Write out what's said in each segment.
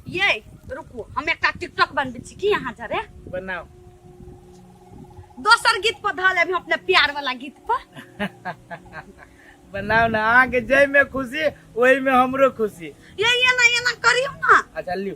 ये रुकू हम एकटा टिकटॉक बनबै छी की अहाँ जरे बनाओ दोसर गीत पर धऽ लेब अपने प्यार वाला गीत पर बनाओ ना अहाँ के जय में खुशी वही में हमरो खुशी ये ये ना ये ना करियो ना अच्छा लियो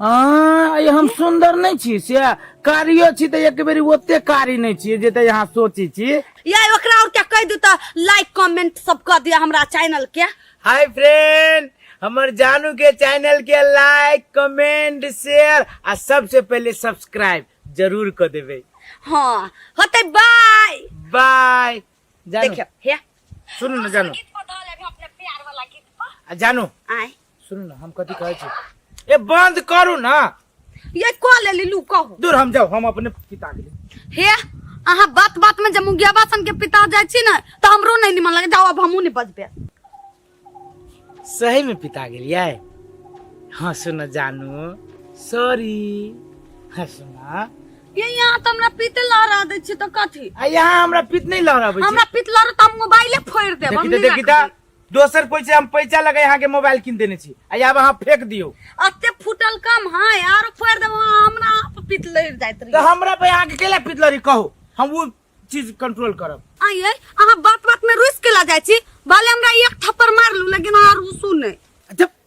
हँ हम सुन्दर नहि छी से कारियो छी तऽ एक बेर ओते कारी नहि छी जे तऽ अहाँ सोचै छी या ओकरा और क्या कह दू तऽ लाइक कमेंट सब कर दिया हमरा चैनल के हाय फ्रेंड हमर जानू के चैनल के लाइक कमेंट शेयर आ सबसे पहले सब्सक्राइब जरूर कर देवे हाँ होते बाय बाय देखियो हे सुनू ना जानू आ जानू आए सुनू ने हम कथी कहै छी ए बंद करू ना ये कह लेली लू कहू दूर हम जाओ हम अपने पिता के लिए हे अहाँ बात बात में जब मुंगिया बासन के पिता जाय छी ना तो हमरो नहीं निमन लगे जाओ अब हमू नहीं बजबे सही में पिता के लिए हाँ सुन जानू सॉरी हाँ सुना ये यहाँ तो हमरा पीते लहरा दे छी तो कथी आ यहाँ हमरा पित नहीं लहराबै हमरा पीत लहरा तो हम मोबाइले फोड़ देब हम देखी नहीं देखी राखब। दोसर कोई से हम पैसा लगे यहाँ के मोबाइल किन देने छी आ आब अहाँ फेंक दियो अते फुटल कम है आरो फोड़ देबो हमरा आप पितलर जाइत तो रही हमरा पे यहाँ के केला पितलरी कहो हम वो चीज कंट्रोल करब आइए अहाँ बात बात में रुस के ला जाइ छी भले हमरा एक थप्पड़ मार लू लेकिन अहाँ रुसू नहीं जब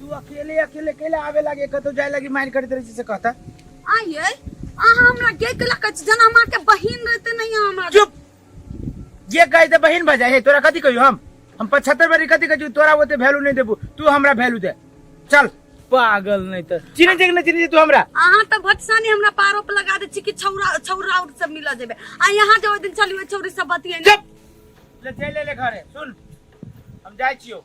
तू अकेले अकेले केले आवे लागे कतो जाए लागी माइंड करते रही से कहता आई है अहाँ हमरा के के लक जना मार के बहिन रहते नहीं हमरा चुप ये कहे ते बहन बजा है तोरा कथी कहियो हम हम पचहत्तर बारी कथी कहियो तोरा ओते वैल्यू नहीं देबू तू हमरा वैल्यू दे चल पागल नहीं तो चिन्ह जे नहीं चिन्ह जे तू हमरा अहाँ तो भटसानी हमरा पारो पे लगा दे छी कि छौरा छौरा और सब मिल जेबे आ यहाँ जो ओइ दिन चलियो छौरी सब बतिये चुप ले चल ले घरे सुन हम जाए छियो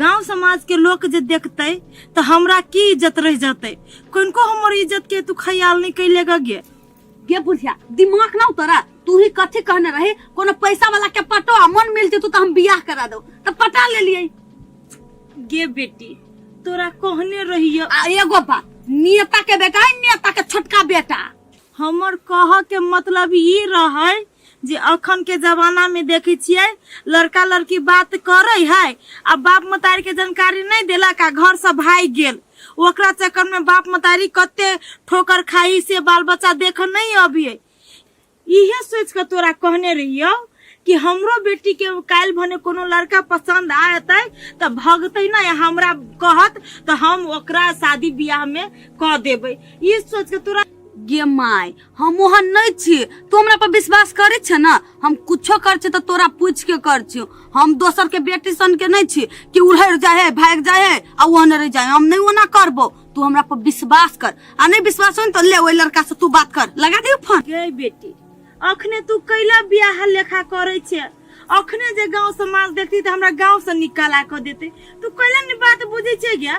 गांव समाज के लोग जे देखते तो हमरा की इज्जत रह जाते कनको हमर इज्जत के तू ख्याल नहीं कैले गे गे बुढ़िया दिमाग ना उतरा तू ही कथी कहने रही कोनो पैसा वाला के पटो आ मन मिलते तू तो हम बियाह करा दो तो पटा ले लिए गे बेटी तोरा कहने रहियो आ एगो बात नेता के बेटा है नेता के छोटका बेटा हमर कह के मतलब ई रहे जे अखन के जमाना में देखी छिये लड़का लड़की बात करे है आ बाप मतारी के जानकारी नहीं देलक आ घर से भाग गेल ओकरा चक्कर में बाप मतारी कते ठोकर खाई से बाल बच्चा देख नहीं अबिये इहे सोच के तोरा कहने रहियो कि हमरो बेटी के काल भने कोनो लड़का पसंद आयते तो भगते ना हमरा कहत तो हम ओकरा शादी ब्याह में क देबे ई सोच के तोरा गे माय हम ओहन नहीं छी तू हमरा पर विश्वास करे छ ना हम कुछो कर छी तो तोरा पूछ के कर छी हम दोसर के बेटी सन के नहीं छी कि उलहर जाए है भाग जाए है आ ओहन रह जाए हम नहीं ओना करबो तू हमरा पर विश्वास कर आ नहीं विश्वास हो न तो ले ओई लड़का से तू बात कर लगा दियो फोन गे बेटी अखने तू कैला बियाह लेखा करे छे अखने जे गांव समाज देखती त हमरा गांव से निकाला क देते तू कैला ने बात बुझे छे क्या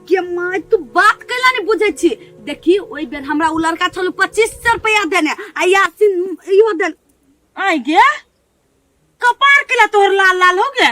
गे माय तू बात कैला ने बुझे छी देखी ओई बेर हमरा उ लड़का छल 2500 रुपया देने आ यासिन इहो देन आई गे कपार कैला तोहर लाल लाल हो गया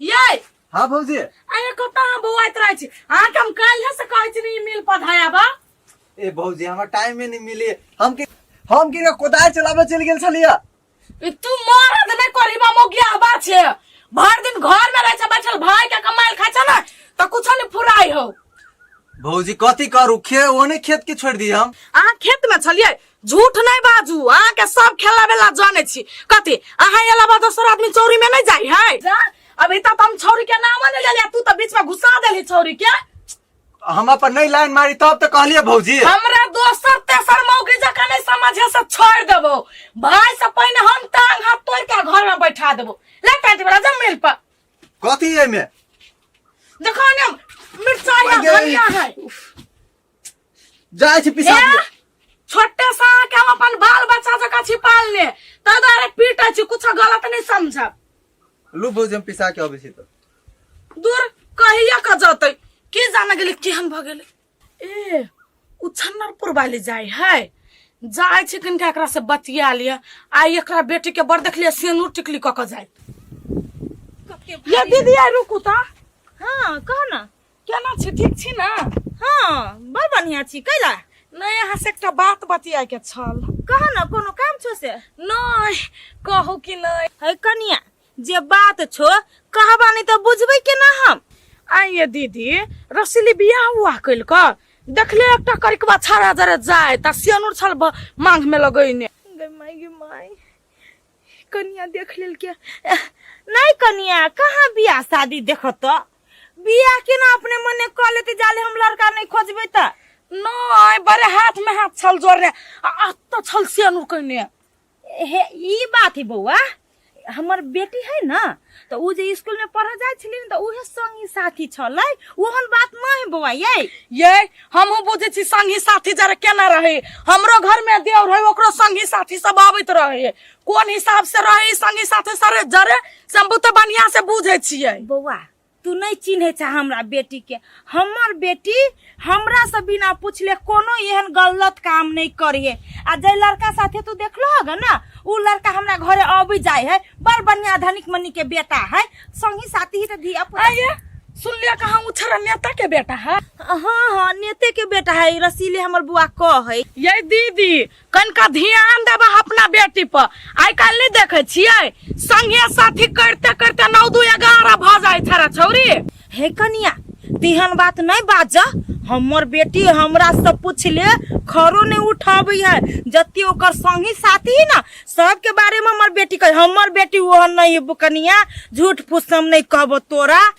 ये हाँ भौजी अरे कत हम बौआत रहे छी अहाँ के हम काल है से कहै छी नहीं मिल पधाया बा ए भौजी हमरा टाइम में नहीं मिले हम के हम के कोदाल चलाबे चल गेल छलिया ई तू मरद नहीं करी बा मोगिया बा छे भर दिन घर में रहे छे बैठल भाई के कमाइल खाय छे ना तो कुछ नहीं फुराई हो भौजी कथी करू खे ओने खेत के छोड़ दी हम अहाँ खेत में छलिए झूठ नहीं बाजू अहाँ के सब खेला बेला जाने छी कथी अहाँ अलावा दोसर आदमी चौरी में नहीं जाई है जा अभी तक हम छौरी के नाम नहीं लेलिया तू तो बीच में घुसा देली छौरी के हम अपन नहीं लाइन मारी तब तो कहलिए भौजी हमरा दोसर तेसर मौगी जका नहीं समझे से छोड़ देबो भाई से पहले हम टांग हाथ तोड़ के घर में बैठा देबो ले पैंट वाला जब मिल पर कथी एमे देखो ने मिर्चा है अरे। धनिया है जाय छी पिसा ए, छोटे सा के हम अपन बाल बच्चा जका छिपाल ले ताहि दुआरे पीटे छी कुछ गलत नहीं समझब लू भौजी हम पिसा के अबै छी तो दूर कहिया का जतै के जान गेलै केहन भऽ गेलै ए उ छन्नरपुर वाली जाइ है जाइ छी कनिका एकरा से बतिया लिअ आ एकरा बेटी के बड़ देखलिए सेनूर टिकली कऽ कऽ जाइत ये दीदी आइ रुकू तऽ हाँ कह ना केना छी ठीक छी ने हाँ बड़ बढ़िया छी कैला नहीं यहाँ से एकटा बात बतिया के छल कहा ना कोनो काम छो से नहीं कहू कि नहीं है कनिया जे बात छो कहबा नहीं तो बुझबे के ना हम आइए दीदी रसीली बियाह हुआ कैल का देखले एकटा करिकवा छाड़ा जरे जाए ता सियानुर छल ब- मांग में लगैने गे माई गे माई कनिया देख लेल के नहीं कनिया कहाँ बियाह शादी देखत तो बिया के ना अपने मने कह लेते जाले हम लड़का नहीं खोजबे त नहीं बड़े हाथ में हाथ छल जोर रहे आ तो छल से अनुर कहने हे ई बात ही बौआ हमर बेटी है ना तो उ जे स्कूल में पढ़ जाय छली तो उहे संगी साथी छलै ओहन बात नहीं बौआ ये ये हम बुझे छी संगी साथी जरा केना रहे हमरो घर में देवर है ओकरो संगी साथी सब आबैत रहे कोन हिसाब से रहे संगी साथे सरे जरे से हम बहुते बढ़िया से बुझे छिए बौआ तू नहीं चिन्हे छ हमरा बेटी के हमर बेटी हमरा से बिना पूछले कोनो एहन गलत काम नहीं करिए आ जे लड़का साथे तू देखलो होगा ना उ लड़का हमरा घरे अबी जाए है बड़ बढ़िया धनिक मनी के बेटा है संगी साथी ही तो धी अपन आइए सुन लिया कहाँ उछरा नेता के बेटा है हाँ हाँ नेते के बेटा है रसीले हमर बुआ कह है ये दीदी कनिका ध्यान देबह अपना बेटी पर आइ काल्हि नहि देखै छियै संगे साथी करते करते नौ दू एगारह भऽ जाइ छड़ा छौरी हे कनिया तेहन बात नहि बाज हमर बेटी हमरा से पूछले खरो नहि उठाबै है जते ओकर संगी साथी है ना सबके बारे में हमर बेटी कहे हमर बेटी ओहन नहीं है कनिया झूठ फूस हम नहीं कहबो तोरा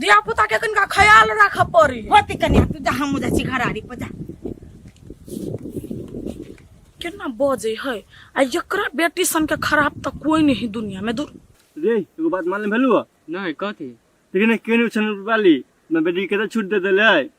धिया पुता के कनिका ख्याल राखऽ पड़ी होती कन्या तू जा हम जा छी घराड़ी पर जा केना बजे है आ एकरा बेटी सन के खराब त कोई नहीं दुनिया में दूर रे एगो बात मान ले भेलू नहीं कथी लेकिन केने उछन वाली मैं बेटी के तो छूट दे देले